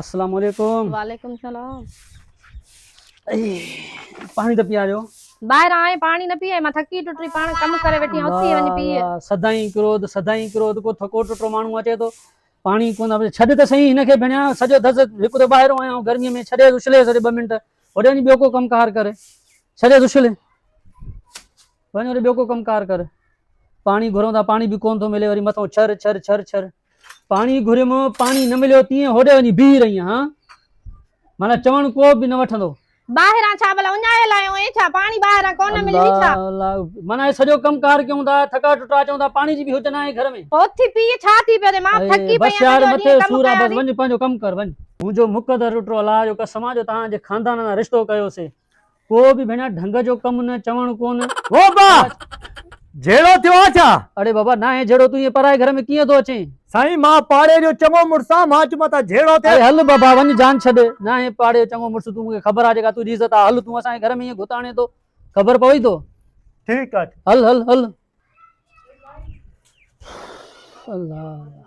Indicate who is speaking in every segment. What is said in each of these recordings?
Speaker 1: السلام عليڪم وعليڪم السلام پاڻي ته پياريو ٻاهر آئي پاڻي
Speaker 2: نه پيئي مان ٿڪي ٽٽي پاڻ ڪم ڪري ويٺي آهيان اٿي وڃي پيئي سدائين ڪروڌ
Speaker 1: سدائين ڪروڌ ڪو ٿڪو ٽٽو ماڻهو اچي ٿو پاڻي ڪون ٿا ڇڏ ته صحيح هن کي ڀيڻيا سڄو دز هڪ ته ٻاهرو آيا آهيون گرمي ۾ ڇڏي اڇلي سڄي ٻه منٽ هوڏي وڃي ٻيو ڪو ڪم ڪار ڪري ڇڏي اڇلي وڃ وري ٻيو ڪو ڪم ڪار ڪر. پاڻي گهرون ٿا پاڻي به ڪونه ٿو ملي وري مٿو ڇر ڇر ڇر ڇر پاڻي گهريم پاڻي نه مليو تيئن هوڏي وڃي بيهي رهي آهيان هان مانا چوڻ ڪو به نه وٺندو ٻاهران ڇا ڀلا
Speaker 2: اڃايل آهيون اي ڇا پاڻي ٻاهران ڪونه ملي اي ڇا مانا سڄو
Speaker 1: ڪم ڪار ڪيون ٿا ٿڪا ٽٽا اچون ٿا پاڻي جي به هجن آهي گهر ۾ اوٿي پي ڇا ٿي
Speaker 2: پيو ٿي مان ٿڪي پئي آهيان سڄو ڏينهن ڪم
Speaker 1: ڪيا بس وڃ پنهنجو ڪم ڪر وڃ منهنجو مقدر ٽٽو الله جو قسم آ جو تهان جي خاندان سان رشتو ڪيو سي ڪو به ڀيڻا ڍنگ جو ڪم نه چوڻ ڪون. او با!
Speaker 3: جهيڙو ٿيو آ ڇا؟ اڙي بابا ناهي جهيڙو
Speaker 1: تون ائين پرائي گهر ۾ ڪيئن ٿو اچين؟ سائين مان پاڙي
Speaker 3: جو چڱو مڙس آ مان چيو مان تان جهيڙو ٿيس. اڙي هل بابا وڃ
Speaker 1: جان ڇڏ. ناهي پاڙي جو چڱو مڙس تون مون کي خبر آ جيڪا تنهنجي عزت آ هل تون اسان جي گهر ۾ ائين گهت آڻين ٿو خبر پوي ٿو. ٺيڪ آ.
Speaker 3: هل هل هل.
Speaker 1: الله.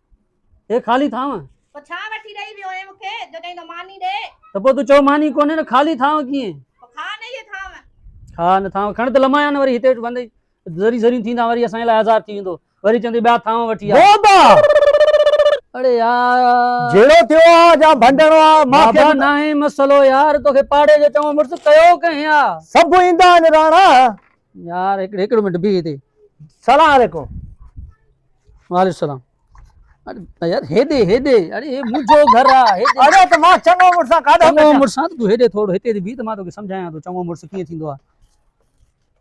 Speaker 1: هي خالي ٿانء. پوء ڇا وٺي ڏئي
Speaker 2: ويو هين مون کي، جو چئين ٿو ماني ڏي. ته پوء تون چئو ماني
Speaker 1: ڪونهي نه خالي ٿانء ڪيئن. پوء
Speaker 2: کاء نه هيء ٿانء. کاء
Speaker 1: نه ٿانء، کڻ ته لمايان نه وري هتي ويٺ بندي ذري ذريون ٿيندان وري اسان جي لاء آزار ٿي ويندو. وري چوندي ٻيا ٿانء وٺي آ. بابا! اڙي يار! جهيڙو ٿيو آ
Speaker 3: جا ڀنڊڻو آ، مان کي به. بابا ناهي
Speaker 1: مسئلو يار، توکي پاڙي جو چڱو مڙس ڪيو ڪنهن آ. سڀ ايندا آهن
Speaker 3: راڻا. يار
Speaker 1: هڪڙي هڪڙي منٽ بيهي تي سلام عليڪم
Speaker 3: وعليڪم
Speaker 1: السلام يار هيڏي هيڏي اڙي هي منهنجو گهر آ اڙي ته مان چڱو
Speaker 3: مڙس سان ڪاڏو چڱو مڙس سان تو هيڏي
Speaker 1: ٿورو هتي تي بيهه ته مان توکي سمجهايان ٿو چڱو مڙس ڪيئن ٿيندو آ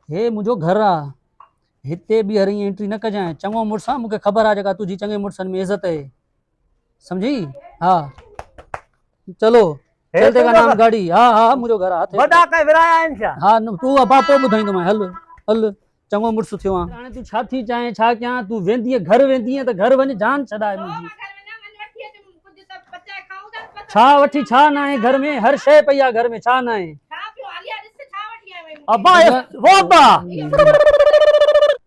Speaker 1: هي منهنجو گهر آ هتي ٻيهر ائين انٽري نه ڪجانء چڱو مڙس سان مونکي خبر آ جيڪا تنهنجي چڱي مڙسن ۾ عزت اهي سمجھي ها چلو هيل تي نام گاڙي ها ها منهنجو گهر هٿ وڏا ڪي ورايا آهن ڇا
Speaker 3: ها تو ابا پو
Speaker 1: ٻڌائيندو مان هل هل چڱو مڙس ٿيو آ هاڻي تو ڇا ٿي چاهين ڇا ڪيان تو ويندي گهر ويندي ته گهر وڃ جان ڇڏائي منهنجي ڇا وٺي ڇا نه آهي گهر ۾ هر شيء پئي آ گهر ۾ ڇا نه آهي ابا
Speaker 3: وو ابا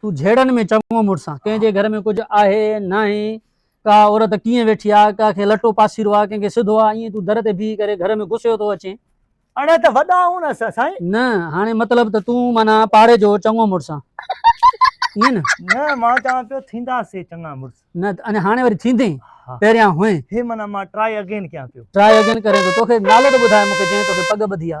Speaker 3: تون جهيڙن ۾
Speaker 1: چڱو مڙس آن. ڪنهن جي گهر ۾ ڪجهه آهي ناهي، ڪا عورت ڪيئن ويٺي آ، ڪا کي لٽو پاسيرو آ، ڪنهن کي سڌو آ، ائين تون در تي بيهي ڪري گهر ۾ گسيو ٿو اچين. اڙي ته وڏا
Speaker 3: آهون نه اسان سائين. نه هاڻي مطلب
Speaker 1: ته تون معنيٰ پاڙي جو چڱو مڙس آن. ائين نه؟ نه مان چوان پيو
Speaker 3: ٿيندا سي چڱا مڙس. نه ته اڃا هاڻي وري
Speaker 1: ٿيندين؟ ها. پهريان هئين. هي معنيٰ مان ٽرائي
Speaker 3: اگين ڪيان پيو. ٽرائي اگين ڪرين ٿو. توکي
Speaker 1: نالو ته ٻڌاء مون کي جنهن توکي پڳ ٻڌي آ.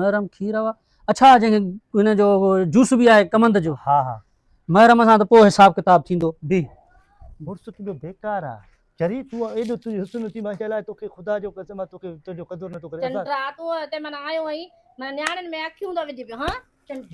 Speaker 1: محرم
Speaker 3: کير
Speaker 1: آ اڇا جنهن کي هن جو جوس به آهي ڪمند جو ها ها محرم
Speaker 3: سان ته پوء
Speaker 1: حساب ڪتاب ٿيندو بي
Speaker 3: مڙس تنهنجو بيڪار آ چري تون ايڏو تنهنجي حسن اٿي ماشاء الله توکي خدا جو قسم آ توکي تنهنجو قدر نٿو ڪري چنڊ رات هتي من
Speaker 2: آيو هئين من نياڻين ۾ اکيون ٿو وجهي پيو ها چنڊ